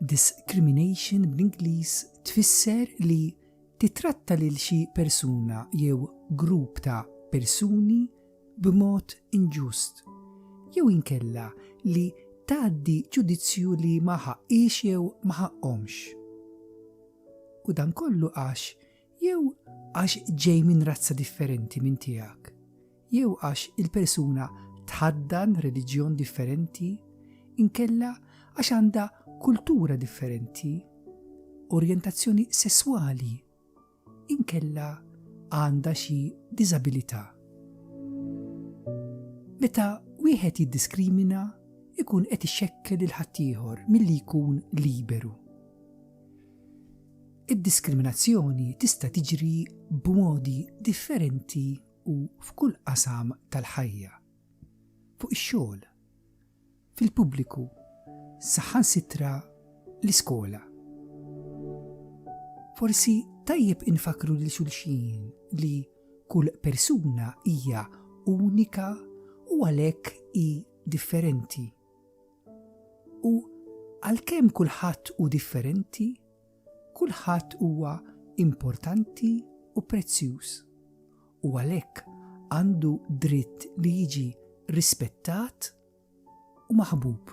Discrimination bl-Ingliż tfisser li tittratta lil xi persuna jew grupp ta' persuni b'mod inġust, jew inkella li tgħaddi ġudizzju li ma ħaqqhiex jew ma ħaqqhomx. U dan kollu għax jew għax ġej minn razza differenti minn tiegħek, jew għax il-persuna tħaddan reliġjon differenti, inkella għax għandha kultura differenti, orjentazzjoni sesswali, inkella għandha xi diżabilità. Meta wieħed jiddiskrimina, ikun qed ixekkel il-ħaddieħor milli jkun liberu. Id-diskriminazzjoni tista' tiġri b'modi differenti u f'kull qasam tal-ħajja, fuq ix-xogħol, fil-pubbliku, saħansitra l-iskola. Forsi tajjeb infakkru lil xulxin li kull persuna hija unika u għalhekk hi differenti. U għalkemm kulħadd hu differenti, kulħadd huwa importanti u prezzjuż, u għalhekk għandu dritt li jiġi rispettat u maħbub.